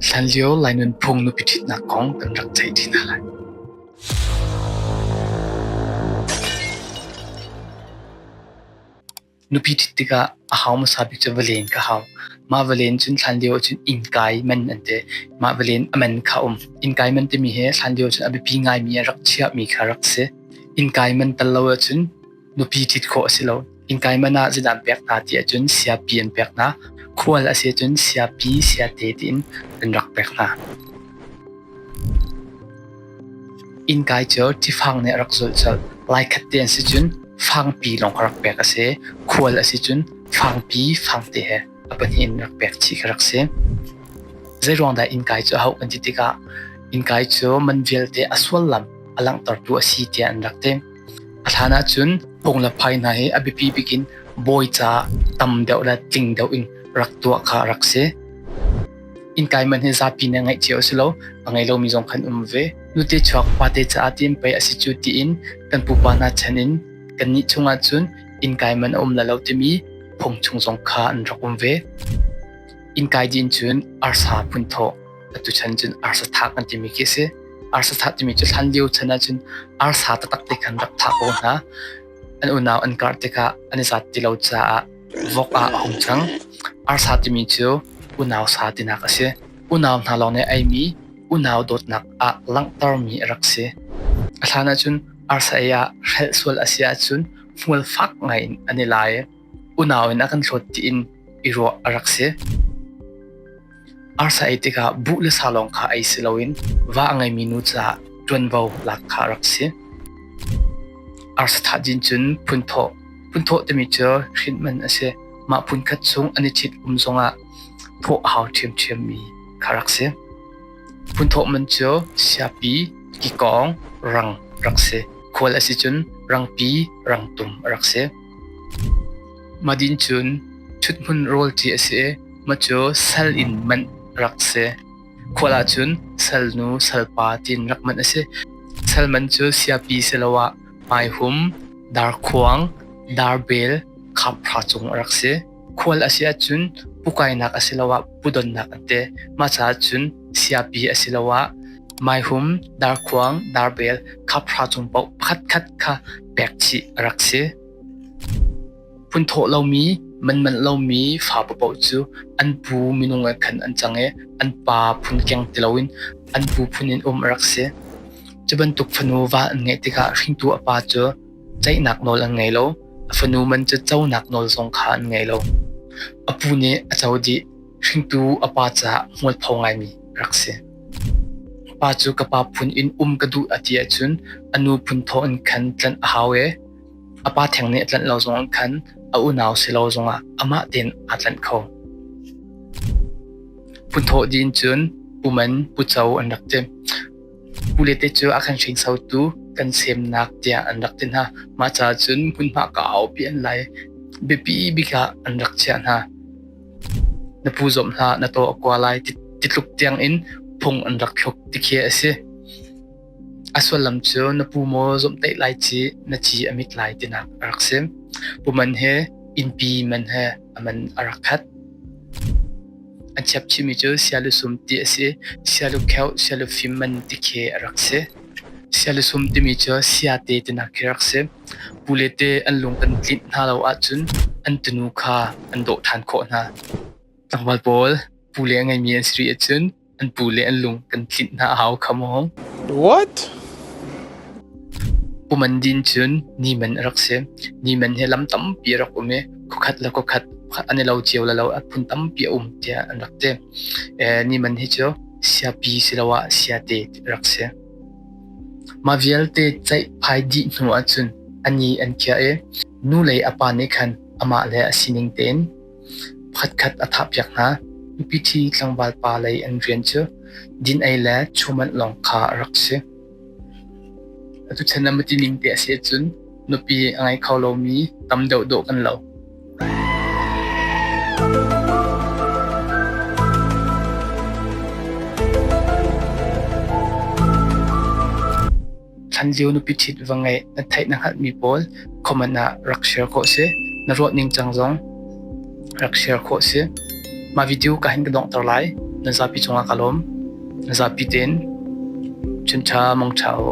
Hlanlio Lai nunphung nupi ṭhitnak kong kan rak theih ṭi hna lai. Nupi ṭhit tikah a hau hmasa bik cu valen ka hau. Mah valen cun hlanlio ahcun innkai man an ti. Mah valen a man kha a um. Innkai man timi hi hlanlio cun a biapi ngaimi a rak chiahmi kha rak si. Innkai man tal lo ahcun nupi ṭhit khawh a si lo. Innkai man ah zeidah an pek hna ti ahcun siapi an pek hna. Khual a si ahcun siapi, siate tiin an rak pek hna. Innkai cu tifang nih a rak zulh colh. Lai khat te an si cun fangpi lawng a rak pek a si. Khual a si cun fangpi, fangte he a pahnih in rak pek chih ka rak si. Zei ruang dah innkai cu a hauh kan ti tikah innkai cu man vialte a sullam a langhtertu a si tiah an rak ti. A hlan ahcun phung le phai hna hi a biapi bik in bawi caah tam deuh le tling deuh in rak tuah kha a rak si. Innkai man hi zapi nih ngeih cio a si lo. A ngei lomi zong kan um ve. Nute chuak fate caah tiin pei a si cu tiin kan pupa hna chan in kannih chungah cun innkai man a um le lo timi phung chung zong kha an rak um ve. Innkai din cun arsa phun thaw. Tuchan cun arsa thak an timi khi si. Arsa thak timi cu hlan lio chan ah cun arsa taktak te khan rak thak ko hna. An unau an karh tikah an i zat ti lo caah vok ah a hung cang. Arsa timi cu unau sa tinak a si. Unau hna lawng nih eimi unau dawtnak ah langhtermi a rak si. A hlan ah cun arsa ei ah hrelh sual a si ahcun hmual fak ngaiin an i lai. unau in a kan hlawt tiin i ruah a rak si. Arsa ei tikah buh le sa lawng kha ei si loin va a ngeimi nu caah ṭuanvo lak kha a rak si. Arsa thahjin cun phunthawh, phunthawh timi cu hrin man a si. Mah phun khat chung an i ṭhit um zongah thawh a hau ṭhiamṭhiammi kha rak si. Phunthawh man cu siapi, kikawng, rang rak si. Khual a si cun rangpi, rangtum a rak si. Madin cun ṭhuthmun rawl ci a si i ma cu sal in manh rak si. Khual ah cun salnu salpa tiin rak manh a si. Sal man cu siapi siloah paihum, darkhuang, darbel, khapra cung a rak si. Khual a si ahcun pukainak asiloah pudonnak an te. Mah caah cun siapi asiloah maihum, darkhuang, darbel, khapra cung paoh pakhatkhat kha pek chih a rak si. Phunthawh lomi, manmanh lomi fa paoh cu an pu minung ah khan an cang i an pa phun keng ti loin an pu phun in um a rak si. Cu bantuk fanu va an ngeih tikah hringtu a pa cu Ceihnak nawl an ngei lo. A fanu man cu conak nawl zong kha an ngei lo. A pu nih a co dih. Hringtu a pa caah mualpho ngaimi rak si. Pa cu ka pa phun in um ka duh a ti ahcun a nu phun thawh in khan tlanh a hau e. A pa theng nih tlanh lo zong in khan a unau si lo zongah amah tein aa tlanh kho. Phun thawh dih in cun puman, puco an rak ti. Ule te cu a kan hringsotu kan semnak tiah an rak ti hna. Mah caah cun hmunhma ka aupi an lai. Biapi bik ah an rak chiah hna. Na pu zomh hlah, na taw a kua lai ti, ti tluk tiang in phung an rak thluk ti khi a si. A sullam cu na pu maw zomhtaih lai ci, na ci a mit lai tinak a rak si. Puman he, innpi man he, a man a rak khat. An chiapchimi cu sialusum ti a si. Sialukheuh, sialufim man ti khi a rak si. Sialusum timi cu sia te tinak khi a rak si. Pule te an lung kan tlinh hna lo ahcun an tunu kha an dawh ṭhan khawh hna. Tlangval pawl pule a ngeimi an si rih ahcun An pu le an lung kan tlinh hna a hau kha maw? What? Kuman din cun ni man a rak si. Ni man hi lam tampi a rak um i kukhat le kukhat an i lo cio le lo a phun tampi a um tiah an rak ti. Ni man hi cu sia pi siloah sia te a rak si. Ma vialte ceih phai dih hnu ahcun ani an kia i nu le a pa nih khan amah le a sining tein Phatkhat a thahpiak hna. Mipi-thi tlangval pa lei an rian cu din-ei le chumanh lawng kha a rak si. Atu chan ah matining te a si ahcun nupi a ngei kho lomi tam deuh dawh kan lo. Chanzio nupi ṭhit va ngeih na theih na hngalhmi pawl comment ah rak share khawh si. Na ruah ning cang zong rak share khawh si. Mah video ka hin ka donghter lai. Na zapi cungah ka lawm. Na zapi tein chun ṭha mong ṭha u.